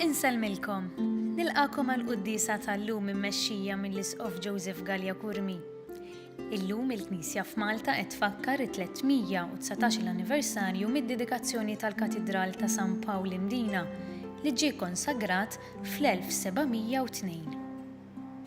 Insellmilkom! Nilqagħkom għall-quddiesa tal-lum immexxija mill-Isqof Joseph Galea Curmi. Illum il-Knisja f'Malta qed tfakkar it-319-il anniversarju mid-dedikazzjoni tal-Katidral ta' San Pawl Imdina li ġie konsagrat fl-1702.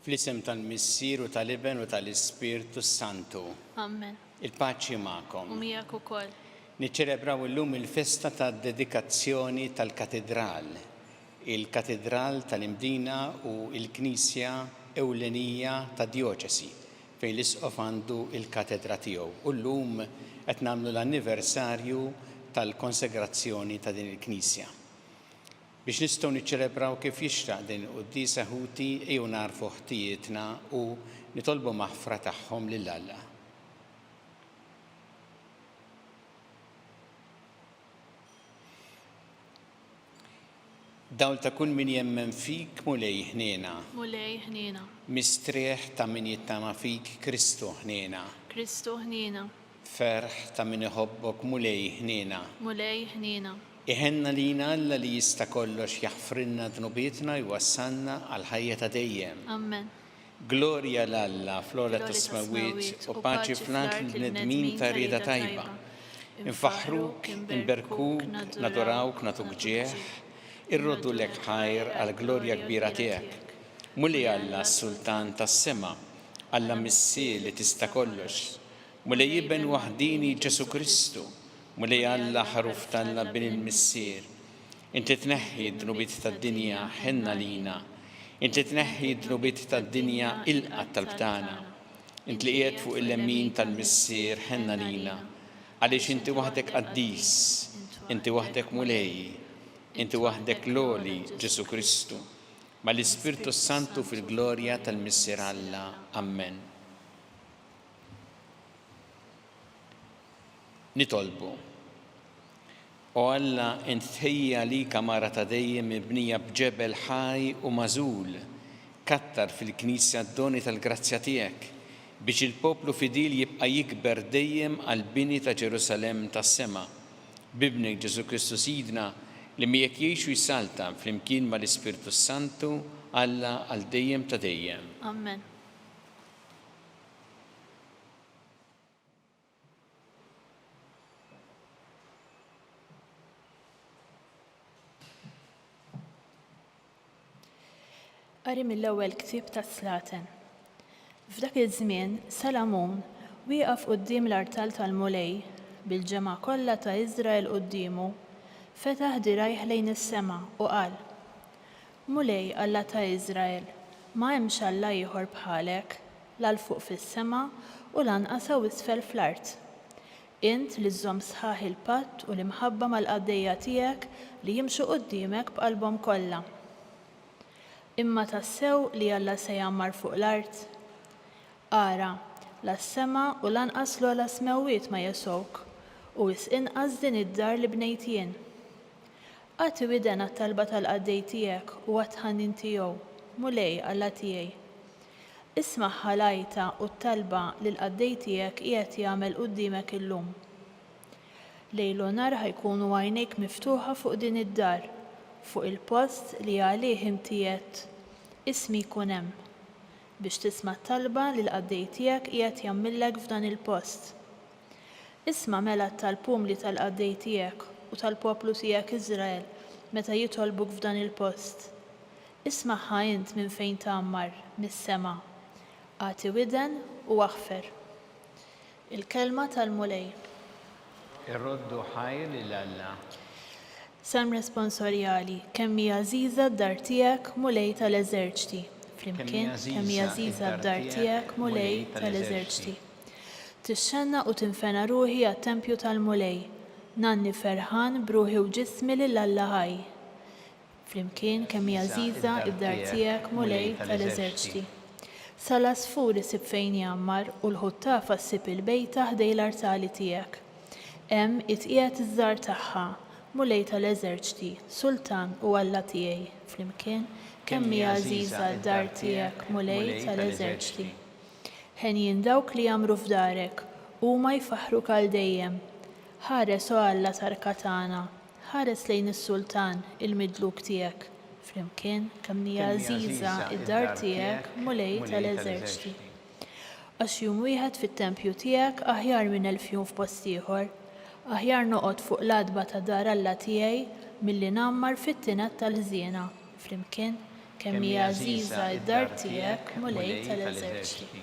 Fl-isem tal-Missier u tal-Iben u tal-Ispirtu s-Santu. Amen. Il-paċi magħkom. U miegħek ukoll. Niċċelebraw illum il-festa tad-dedikazzjoni tal-Katidral. Il-Katidral tal-Imdina hu l-knisja ewlenija tad-djoċesi, fejn l-Isqof għandu l-katedra tiegħu, u llum qed nagħmlu l-anniversarju tal-konsegrazzjoni ta' din il-knisja. Biex nistgħu niċċelebraw kif jixraq din il-quddiesa ħuti ejjew nagħrfu ħtijietna u nitolbu maħfra tagħhom lil Alla. Dawl ta' kull min jemmen fik, Mulej ħniena. Mulej ħniena. Mistrieħ ta' min jittama fik, Kristu ħniena. Kristu ħniena. Ferħ ta' min iħobbok Mulej ħniena. Mulej ħniena. Iħenna lina Alla li jista' kollox jaħfrilna dnubietna jwassalna għal ħajja ta' dejjem. Amen. Glorja 'l Alla fl-ogħla tas-smewwiet u paċi fl-art lil bnedmin ta' rieda tajba. Infaħħruk, inberkuk, nadorawk, nagħtuk ġieħ, irroddu lek ħajr għall-glorja kbira tiegħek. Mulej Alla s-Sultan tas-sema, Alla Missir li tista' kollox, Mulej Iben waħdini Ġesu Kristu, Mulej Alla ħaruf t'Alla Bin il-Missier, Inti tneħħi d-dnubiet tad-dinja, ħenn għalina. Inti tneħħi d-dnubiet tad-dinja, ilqa' t-talb tagħna. Int li qiegħed fuq il-lemmin tal-Missier, ħenn għalina. Għaliex Inti waħdek qaddis, Inti waħdek Mulej, Inti waħdek l-għoli, Ġesu Kristu, mal-Ispirtu s-Santu fil-glorja tal-Missier Alla. Ammen. Nitolbu. O Alla, int tħejja għalik għamara ta' dejjem mibnija b'ġebel ħaj u magħżul. Kattar fil-Knisja d-doni tal-grazzja tiegħek, biex il-poplu fidil jibqa' jikber dejjem għall-bini ta' Ġerusalemm tas-sema. B'Ibnek Ġesù Kristu Sidna, li miegħek jgħix u jsaltan flimkien mal-Ispirtu s-Santu, Alla għal dejjem ta' dejjem. Amen. Qari mill-ewwel ktieb tas-Slaten. F'dak iż-żmien Salamun wieqaf quddiem l-artal tal-Mulej bil-ġemgħa kollha ta' Iżrael quddiemu, fetaħ dirgħajh lejn is-sema u qal, Mulej Alla ta' Iżrael, ma hemmx Alla ieħor bħalek, la 'l fuq fis-sema u lanqas hawn isfel fl-art. Int li żżomm sħaħ il-patt u l-imħabba mal-qaddejja tiegħek li jimxu quddiemek b'qalbhom kollha. Imma tassew li Alla se jgħammar fuq l-art? Ara, la s-sema u lanqas l-ogħla smewwiet ma jesgħuk, u wisq inqas din id-dar li bnejt jien. Agħti widen għat-talba tal-qaddej tiegħek u għat-tħannin tiegħu, Mulej, Alla tiegħi. Ismagħha l-għajta u t-talba li l-qaddej tiegħek qiegħed jagħmel quddiemek illum. Lejl u nhar ħa jkunu għajnejk miftuħa fuq din id-dar, fuq il-post li għalih inti għedt, Ismi jkun hemm, biex tisma' t-talba li l-qaddej tiegħek qiegħed jagħmillek f'dan il-post. Isma' mela t-talpumli tal-qaddej tiegħek u tal-poplu tiegħek Iżrael meta jitolbuk f'dan il-post. Ismagħha int minn fejn tgħammar, mis-sema. Agħti widen u aħfer. Il-kelma tal-Mulej. Irroddu ħajr lil Alla. Salm Responsorjali, Kemm hi għażiża d-dar tiegħek, Mulej ta' l-eżerċti! Flimkien, Kemm hi għażiża d-dar tiegħek, Mulej ta' l-eżerċti! Tixxennaq u tinfena ruħi għat-tempju tal-Mulej. Ngħanni ferħan b'ruħi u ġismi lil Alla ħaj. Flimkien kemm hi għażiża d-dar tiegħek, Mulej ta' l-eżerċti. Sa l-għasfur isib fejn jgħammar u l-ħuttafa ssib il-bejta ħdej l-artali tiegħek. Hemm hi tqiegħed iż-żgħar tagħha, Mulej ta' l-eżerċti, Sultan u Alla tiegħi. Flimkien kemm hi għażiża d-dar tiegħek, Mulej ta' l-eżerċti. Henjin dawk li jgħammru f'darek, huma jfaħħruk għal dejjem. Ħares, O Alla t'arka tagħna, ħares lejn is-sultan, il-midluk tiegħek. Flimkien, kemm hi għażiża d-dar tiegħek, Mulej ta' l-eżerċti! Għax jum wieħed fit-tempju tiegħek aħjar minn elf jum f'post ieħor. Aħjar noqgħod fuq l-għatba ta' dar Alla tiegħi milli ngħammar fit-tined tal-ħżiena. Flimkien, kemm hi għażiża d-dar tiegħek, Mulej ta' l-eżerċti.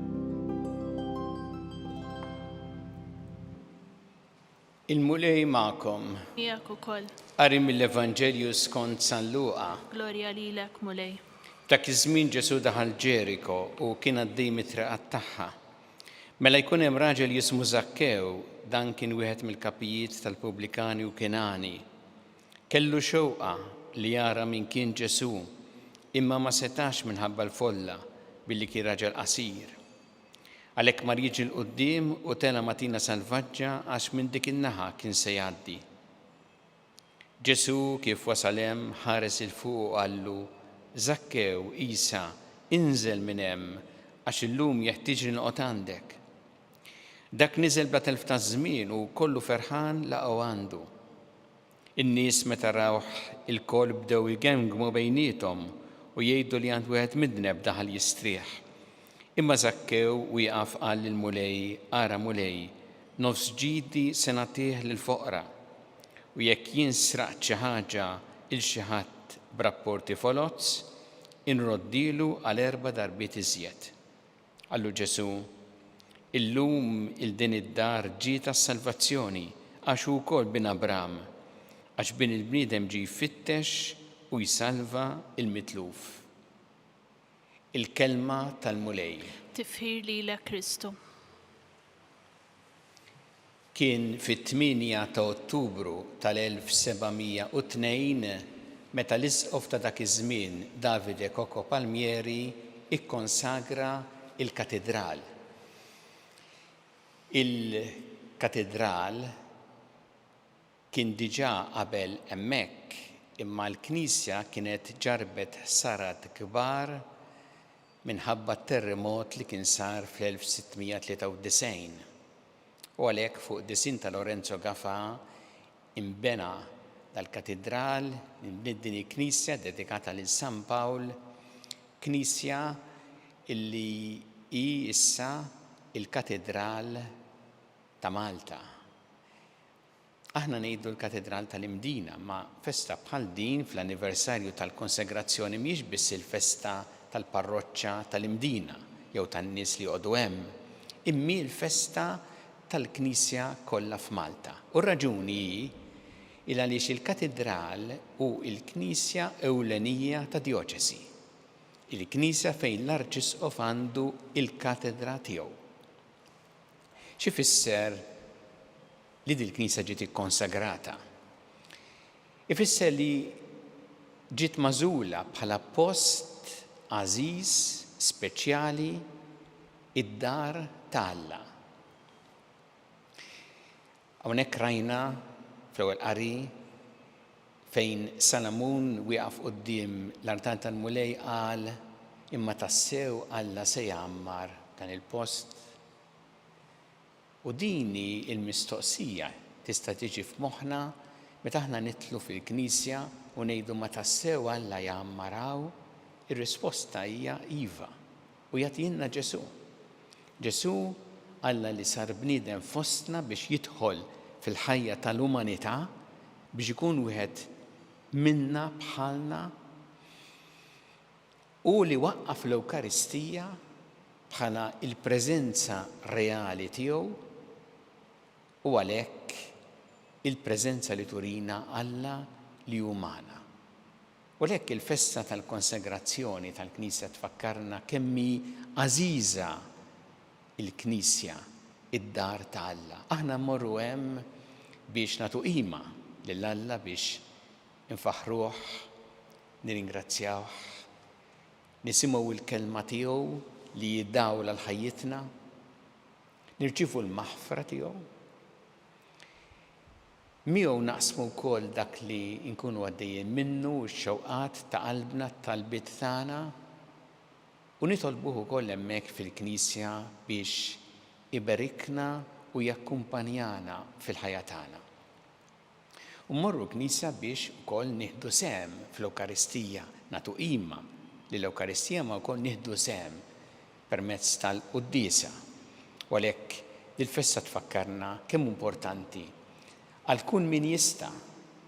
Il-Mulej magħkom. Miegħek ukoll. Qari mill-Evanġelju skont San Luqa. Glorja lilek, Mulej. Dak iż-żmien Ġesù daħal Ġeriko u kien għaddej mit-triqat tagħha. Mela jkun hemm raġel jismu Żakkew, dan kien wieħed mill-kapijiet tal-pubblikani u kien għani. Kellu xewqa li jara min kien Ġesù, imma ma setax minħabba l-folla, billi kien raġel qasir. Għalhekk mar jiġi 'l quddiem u tela' ma' tina salvaġġa għax minn dik in-naħa kien se jgħaddi. Ġesù kif wasal hemm ħares 'il fuq u qallu, Żakkew, Għisa, inżel minn hemm, għax illum jeħtieġli noqgħod għandek. Dak niżel bla telf ta' żmien u kollu ferħan laqgħu għandu. In-nies meta rawh ilkoll bdew igemmgmu bejniethom u jgħidu li għand wieħed midneb daħal jistrieħ. Imma Żakkew wieqaf qal lill-Mulej, Ara Mulej, nofs ġidi se nagħtih lill-foqra. U jekk jien sraqt xi ħaġa 'il xi ħadd b'rapporti foloz, inroddielu għal erba' darbiet iżjed. Qallu Ġesù, Illum 'il din id-dar ġiet għas-salvazzjoni, għax hu wkoll bin Abrahm, għax Bin il-bniedem ġie jfittex u jsalva l-mitluf. Il-Kelma tal-Mulej. Tifħir lilek Kristu. Kien fit-tmienja ta' Ottubru tal-1702 meta l-isqof ta' dak iż-żmien Davide Coco Palmieri kkonsagra l-katidral. Il-katidral kien diġà qabel hemmhekk imma l-knisja kienet ġarrbet ħsarat kbar minħabba t-terrimot li kien sar fl-1693. U għalhekk fuq id-disinn ta' Lorenzo Gafà inbena dal-katidral, inbniet din il-knisja ddedikata lil San Pawl, knisja li hi issa l-katidral ta' Malta. Aħna ngħidu l-Katedral tal-Imdina, imma festa bħal din fl-anniversarju tal-konsegrazzjoni mhijiex biss il-festa tal-parroċċa tal-Imdina jew tan-nies li joqogħdu hemm, immi l-festa tal-Knisja kollha f'Malta. U r-raġuni hi 'l għaliex il-Katedral hu l-knisja ewlenija ta' djoċesi, il-knisja fejn l-Arċisqof għandu l-katedra tiegħu. X'ifisser? li dil-knisja ġiet ikkonsagrata ifisser li ġiet magħżula bħala post għażiż, speċjali, id-dar ta' Alla. Hawnhekk rajna fl-ewwel qari fejn Salamun wieqaf quddiem l-artal tal-Mulej qal imma tassew Alla se jgħammar dan il-post. U din hi l-mistoqsija tista' tiġi f'moħħna meta aħna nidħlu fil-knisja u ngħidu ma tassew Alla jgħammar hawn? Ir-risposta hija iva, u jagħtihilna Ġesù. Ġesù, Alla li sar bniedem fostna biex jidħol fil-ħajja tal-umanità, biex ikun wieħed minna bħalna, Hu li waqqaf l-Ewkaristija bħala l-preżenza reali tiegħu u għalhekk il-preżenza li turina Alla li hu magħna. U għalhekk il-festa tal-konsagrazzjoni tal-Knisja tfakkarna kemm hi għażiża l-Knisja, id-dar ta' Alla. Aħna mmorru hemm biex nagħtu qima lil Alla biex Infaħħruh, nirringrazzjawh, nisimgħu l-Kelma tiegħu li hi dawl għal ħajjitna, nirċievu l-maħfra tiegħu. Miegħu naqsmu wkoll dak li nkunu għaddejjin minnu, x-xewqat ta' qalbna, t-talbiet tagħna, u nitolbuh ukoll hemmhekk fil-Knisja biex iberikna u jakkumpanjana fil-ħajja tagħna. U mmorru l-knisja biex ukoll nieħdu sehem fl-Ewkaristija, nagħtu qima lill-Ewkaristija ma wkoll nieħdu sehem permezz tal-quddiesa. U għalhekk dil-festa tfakkarna kemm hu importanti għal kun min jista',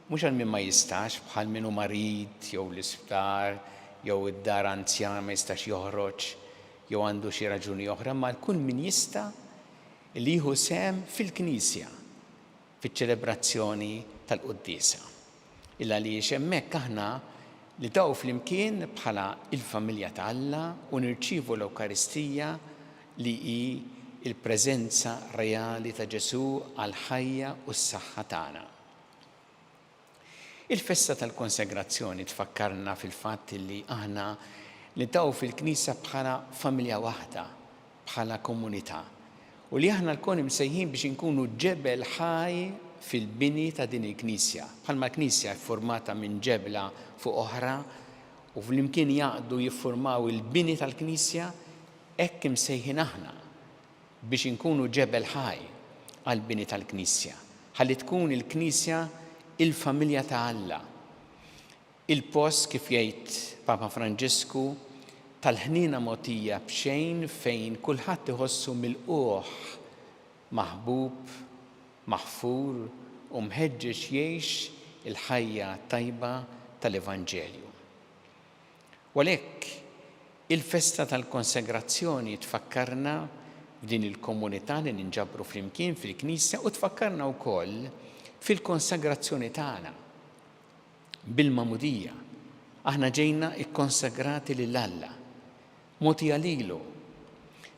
mhux għal min ma jistax bħal min hu marid jew l-isptar jew id-dar anzjana ma jistax joħroġ jew għandu xi raġuni oħra imma għal kun min jista' li jieħu sehem fil-knisja. fiċ-ċelebrazzjoni tal-quddiesa, il-għaliex hemmhekk aħna nidgħu flimkien bħala l-familja ta' Alla u nirċievu l-Ewkaristija li hi l-preżenza reali ta' Ġesù għall-ħajja u s-saħħa tagħna. Il-festa tal-konsegrazzjoni tfakkarna fil-fatt li aħna niltaqgħu fil-Knisja bħala familja waħda, bħala komunità, u li aħna lkoll imsejħin biex inkunu ġebel ħaj fil-bini ta' din il-Knisja. Bħalma l-Knisja ffurmata minn ġebla fuq oħra u flimkien jgħaqqdu jiffurmaw il-bini tal-Knisja, hekk imsejħin aħna, biex inkunu ġebel ħaj għall-bini tal-Knisja, ħalli tkun il-Knisja il-familja ta' Alla, il-post, kif jgħid Papa Franġisku, tal-ħniena mogħtija b'xejn fejn kulħadd iħossu milqugħ, maħbub, maħfur u mħeġġeġ jgħix il-ħajja t-tajba tal-Evanġelju. U għalhekk, il-festa tal-konsegrazzjoni tfakkarna f'din il-komunità li ninġabru flimkien fil-Knisja u tfakkarna wkoll fil-konsagrazzjoni tagħna. Bil-Magħmudija, aħna ġejna kkonsagrati lil Alla, mogħtija lilu,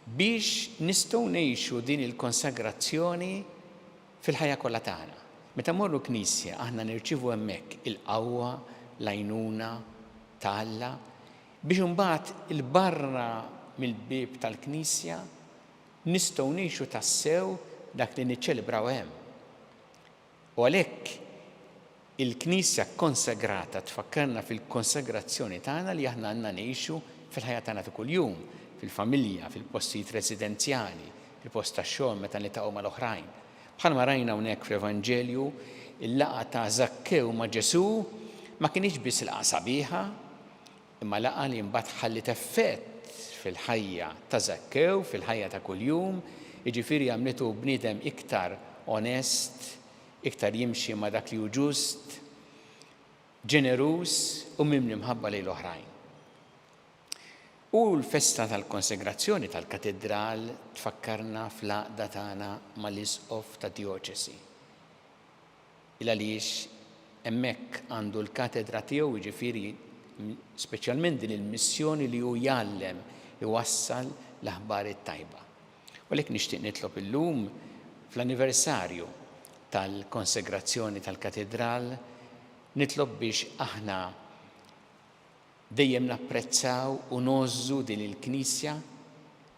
biex nistgħu ngħixu din il-konsagrazzjoni Fil-ħajja kollha tagħna. Meta mmorru l-knisja aħna nirċievu hemmhekk il-qawwa, l-għajnuna ta' Alla biex imbagħad 'il barra mill-bieb tal-knisja nistgħu ngħixu tassew dak li niċċelebraw hemm. U għalhekk, Il-Knisja kkonsegrata tfakkarna fil-konsegrazzjoni tagħna li aħna għandna ngħixu fil-ħajja tagħna ta' kuljum, fil-familja, fil-postijiet residenzjali, fil-post tax-xogħol, meta niltaqgħu mal-oħrajn. Bħalma rajna hawnhekk fl-Evanġelju, il-laqgħa ta' Żakkew ma' Ġesù ma kinitx biss laqgħa sabiħa, imma laqgħa li mbagħad ħalliet effett fil-ħajja ta' Żakkew, fil-ħajja ta' kuljum, jiġifieri għamlitu bniedem iktar onest, iktar jimxi ma' dak li hu ġust, ġeneruż u mimli mħabba lejn l-oħrajn. U l-festa tal-konsegrazzjoni tal-katidral tfakkarna fl-għaqda tagħna mal-Isqof tad-djoċesi. Il għaliex hemmhekk għandu l-katedra tiegħu, jiġifieri speċjalment din il-missjoni li hu jgħallem, iwassal l-aħbar it-tajba. U għalhekk nixtieq nitlob illum, fl-anniversarju tal-konsegrazzjoni tal-Katidral, nitlob biex aħna dejjem napprezzaw u ngħożżu din il-Knisja,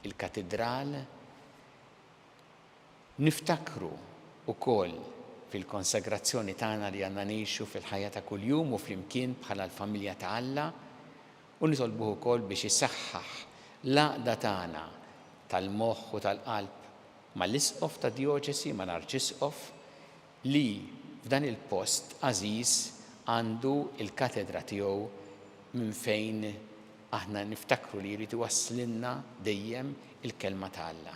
il-Katidral, niftakru wkoll fil-konsegrazzjoni tagħna li għandna ngħixu fil-ħajja ta' kuljum u flimkien bħala l-familja ta' Alla, U nitolbuh ukoll biex isaħħaħ l-għaqda tagħna tal-moħħ u tal-qalb mal-Isqof tad-Djoċesi, mal-Arċisqof, li f'dan il-post għażiż għandu l-katedra tiegħu minn fejn aħna niftakru li jrid iwasslilna dejjem il-Kelma ta' Alla.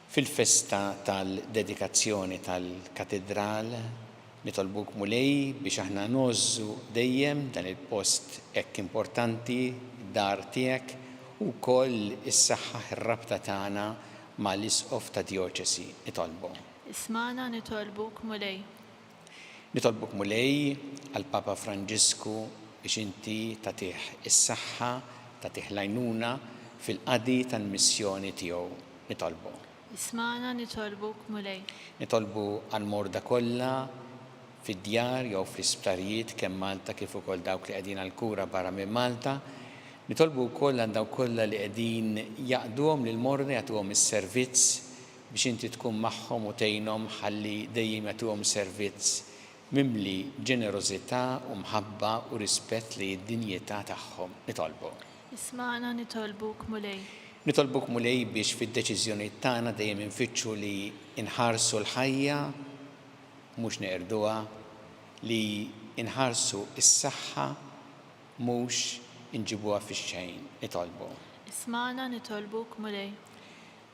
Fil-festa tal-dedikazzjoni tal-Katidral nitolbuk Mulej biex aħna ngħożżu dejjem dan il-post hekk importanti, d-dar tiegħek, u wkoll issaħħaħ ir-rabta tagħna ma' l-Isqof tad-Djoċesi. Nitolbu. Ismagħna nitolbuk Mulej. Nitolbuk Mulej għal Papa Franġisku biex inti tagħtih is-saħħa, tagħtih l-għajnuna fil-qadi tal-missjoni tiegħu. Nitolbu. Ismagħna nitolbuk Mulej. Nitolbu għal morda kollha fid-djar jew fl-isptarijiet kemm Malta kif ukoll dawk li qegħdin għal kura barra minn Malta. Nitolbu wkoll għal dawk kollha li qegħdin jaqduhom lill-morda jagħtuhom is-servizz biex inti tkun magħhom u tgħinhom ħalli dejjem jagħtuhom servizz mimli b'ġenerożità u mħabba u rispett lejn id-dinjità tagħhom. Nitolbok. Ismagħna, nitolbuk, Mulej. Nitolbok, Mulej, biex fid-deċiżjonijiet tagħna dejjem infittxu li nħarsu l-ħajja, mhux neqirduha, li nħarsu s-saħħa, mhux inġibuha fix-xejn. Nitolbok. Ismagħna, nitolbuk, Mulej.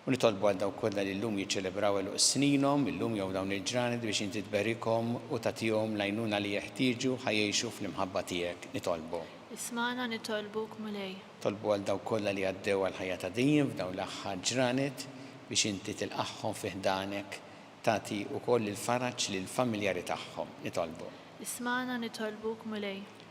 U nitolbu għal dawk kollha li llum jiċċelebraw għeluq sninhom, illum jew dawn il-ġranet, biex Inti tberikhom u tagħtihom l-għajnuna li jeħtieġu ħa jgħixu fl-imħabba Tiegħek. Nitolbu. Ismagħna nitolbuk, Mulej. Nitolbu għal dawk kollha li għaddew għal ħajja ta' dejjem f'dawn l-aħħar ġranet, biex Inti tilqagħhom fi ħdanek, tagħti wkoll il-faraġ lill-familjari tagħhom. Nitolbu. Ismagħna nitolbuk, Mulej.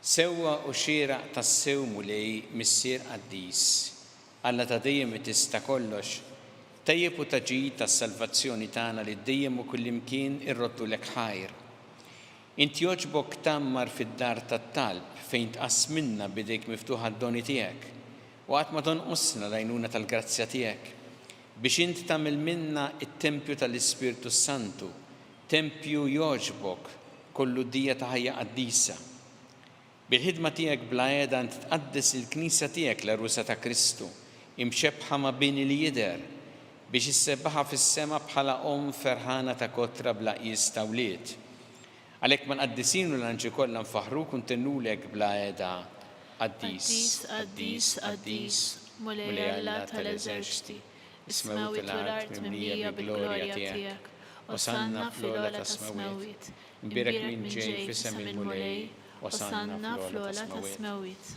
Sewwa u xieraq tassew Mulej Missier Qaddis, Alla ta' dejjem u Tista' kollox, tajjeb u ta' ġid għas-salvazzjoni tagħna li dejjem u kullimkien irroddulek ħajr. Int jogħġbok tgħammar fid-dar tat-talb fejn tqassmilna b'idejk miftuħa d-doni tiegħek u qatt ma tonqosna l-għajnuna tal-grazzja tiegħek biex int tagħmel minna t-tempju tal-Ispirtu s-Santu Tempju jogħġbok kollu dija ta' ħajja qaddisa. Bil-ħidma tiegħek bla għeda int tqaddes lill-Knisja tiegħek l-għerusa ta' Kristu, imxebbħa ma' bini li jidher, biex issebbaħha fis-sema bħala omm ferħana ta' kotra bla qies ta' wlied. Għalhekk mal-qaddisin u l-anġli kollha nfaħħruk u ntennulek bla għeda, Qaddis, qaddis, qaddis, Mulej Alla tal-eżerċti. Is-smewwiet u l-art mimlija bil-glorja tiegħek, Osanna fl-ogħla tas-smewwiet. Imbierek min ġej f'isem il-Mulej, Osanna fl-ogħla tas-smewwiet.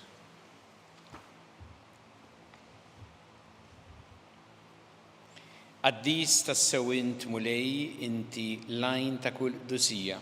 Qaddis tassew int, Mulej, inti l-għajn ta' kull qdusija.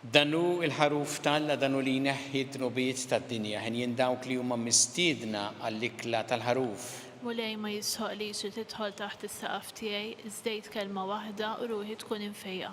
Dan hu l-Ħaruf t'Alla, dan hu li jneħħi d-dnubiet tad-dinja. Henjin dawk li huma mistiedna għall-ikla tal-Ħaruf. Mulej, ma jistħoqqlix li tidħol taħt is-saqaf tiegħi, żdejt kelma waħda u ruħi tkun imfejqa.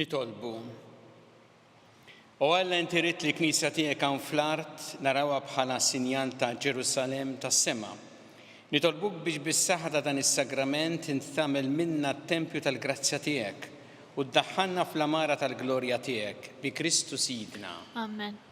Nitolbu. O Alla inti rid li knisja tiegħek hawn fl-art narawha bħala sinjal ta' Ġerusalemm tas-sema. Nitolbuk biex bis-saħħa ta' dan is-sagrament int tagħmel minna t-tempju tal-grazzja tiegħek u ddaħħalna fl-għamara tal-glorja tiegħek bi Kristu Sidna. Amen.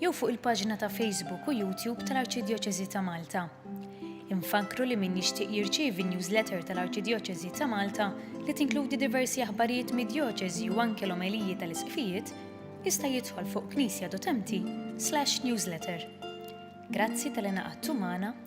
jew fuq il-paġna ta' Facebook u YouTube tal-Arċidjoċesi ta' Malta. Infakkru li min jixtieq jirċievi n-newsletter tal-Arċidjoċesi ta' Malta li tinkludi diversi aħbarijiet mid-djoċesi u anke l-omeliji tal-isqfijiet jista' jidħol fuq knisja.mt/newsletter. Grazzi tal-li naqadtu magħna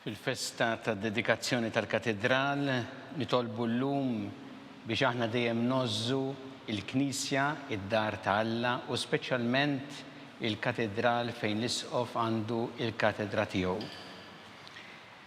Fil-festa tad-dedikazzjoni tal-Katidral nitolbu llum biex aħna dejjem ngħożżu l-Knisja, id-dar ta' Alla u speċjalment il-Katidral fejn l-Isqof għandu l-katedra tiegħu.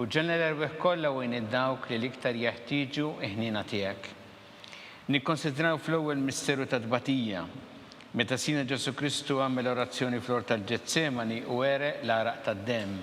U ġenera l-erwieħ kollha u għin 'il dawk li l-iktar jeħtieġu l-ħniena tiegħek. Nikkonsidraw fl-ewwel misteru tat-tbatija. Meta Sidna Ġesù Kristu għamel orazzjoni fl-ort tal-Ġetsemani u għereq l-għaraq tad-demm.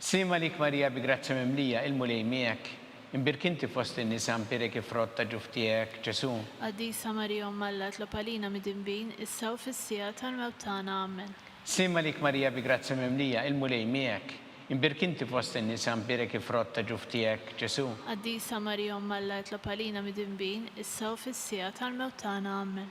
Sliem għalik Marija bi grazzja mimlija, il-Mulej miegħek, imbierk inti fost in-nisa, mpierek ifrott ta' ġuf tiegħek, Ġesù. Qaddisa Marija Omm Alla itlob għalina midinbin, issa u fis-siegħa tal-mewt tagħna. Amen. Sliem għalik Marija bi grazzja mimlija, il-Mulej miegħek, imbierk inti fost in-nisa, mpierek ifrott ta' ġuf tiegħek, Ġesù. Qaddisa Marija Omm Alla itlob għalina midinbin, issa u fis-siegħa tal-mewt tagħna. Amen.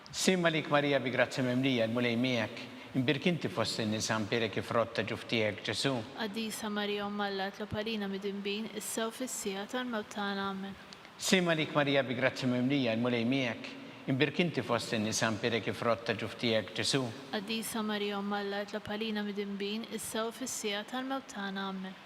Slim għalik Marija bi grazzja mimlija, il-Mulej miegħek, imbierk inti fost in-nisa, imbierek il-frott ta' ġuftiegħek, Ġesù. Qaddisa Marija Omm Alla itlob għalina midinbin, issa u fis-siegħa tal-mewt tagħna. Amen. Slim għalik Marija bi grazzja mimlija, il-Mulej miegħek, imbierk inti fost in-nisa, imbierek il-frott ta' ġuftiegħek, Ġesù. Qaddisa Marija Omm Alla itlob għalina midinbin, issa u fis-siegħa tal-mewt tagħna. Amen.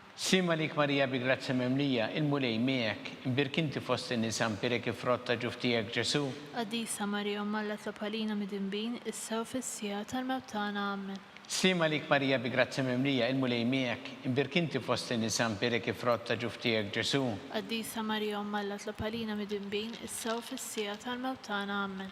Sliem għalik Marija bi grazzja mimlija, il-Mulej miegħek, imbierk inti fost in-nisa, mpierek il-frott ta' ġuf tiegħek Ġesù. Qaddisa Marija Omm Alla tlob għalina midinbin, issa u fis-siegħa tal-mewt tagħna. Ammen. Sliem għalik Marija bi grazzja mimlija, il-Mulej miegħek, imbierk inti fost in-nisa, mpierek il-frott ta' ġuf tiegħek Ġesù. Qaddisa Marija Omm Alla tlob għalina midinbin, issa u fis-siegħa tal-mewt tagħna. Ammen.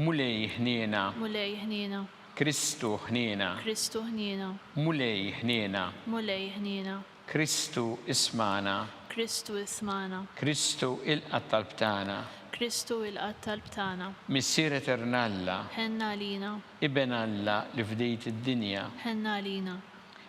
Mulej ħniena. Mulej ħniena. Kristu ħniena. Kristu ħniena. Mulej ħniena. Mulej ħniena. Kristu ismagħna. Kristu ismagħna. Kristu ilqa' t-talb tagħna. Kristu ilqa' t-talb tagħna. Missier Etern Alla. Ħenn għalina. Iben Alla li fdejt id-dinja. Ħenn għalina.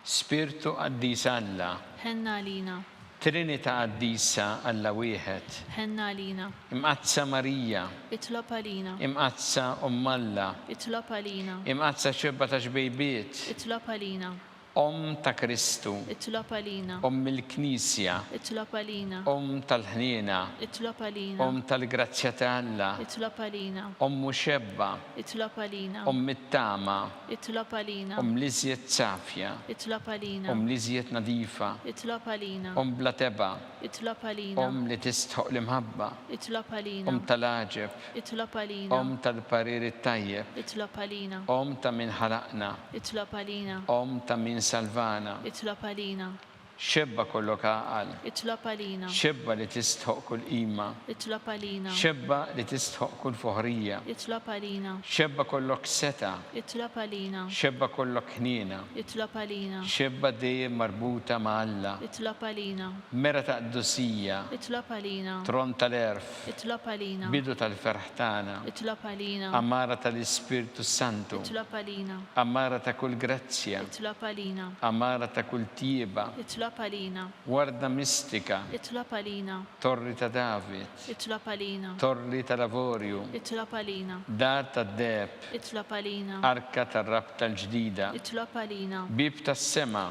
Spirtu Qaddis Alla. Ħenn għalina. Trinita' Qaddisa Alla Wieħed. Ħenn għalina. Imqaddsa Marija. Itlob għalina. Imqaddsa Omm Alla. Itlob għalina. Imqaddsa Xebba ta' Xbejbiet. Itlob għalina. Omm ta' Kristu. Itlob għalina. Omm il-Knisja. Itlob għalina. Omm tal-ħniena. Itlob għalina. Omm tal-grazzja ta' Alla. Itlob għalina. Ommu Xebba. Itlob għalina. Omm it-tama. Itlob għalina. Omm l-iżjed safja. Itlob għalina. Omm l-iżjed nadifa. Itlob għalina. Omm bla tebgħa. Itlob għalina. Omm li tistħoqq l-imħabba. Itlob għalina. Omm tal-għaġeb. Itlob għalina. Omm tal-parir it-tajjeb. Itlob għalina. Omm ta' min ħalaqna. Itlob għalina. Omm ta' min salvana. Itlob għalina. Xebba kollok għaqal. Itlob għalina. Xebba li tistħoq kull qima. Itlob għalina. Xebba li tistħoq kull foħrija. Itlob għalina. Xebba kollok setgħa. Itlob għalina. Xebba kollok ħniena. Itlob għalina. Xebba dejjem marbuta ma' Alla. Itlob għalina. Mera ta' qdusija. Itlob għalina. Tron tal-għerf. Itlob għalina. Bidu tal-ferħ tagħna. Itlob għalina. Għamara tal-Ispirtu s-Santu. Itlob għalina. Għamara ta' kull grazzja. Itlob għalina. Għamara ta' kull tjieba. Itlob għalina. Warda mistika. Itlob għalina. Torri ta' David. Itlob għalina. Torri tal-avorju. Itlob għalina. Dar tad-deheb. Itlob għalina. Arka tar-rabta l-ġdida. Itlob għalina. Bieb tas-sema.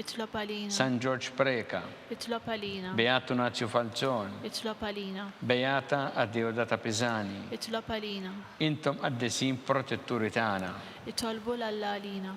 Itlob għalina. San Ġorġ Preca. Itlob għalina. Beat Tunazju Falzon. Itlob għalina. Beata Adeodata Pisani. Itlob għalina. Intom qaddisin protetturi tagħna. Itolbu 'l Alla għalina.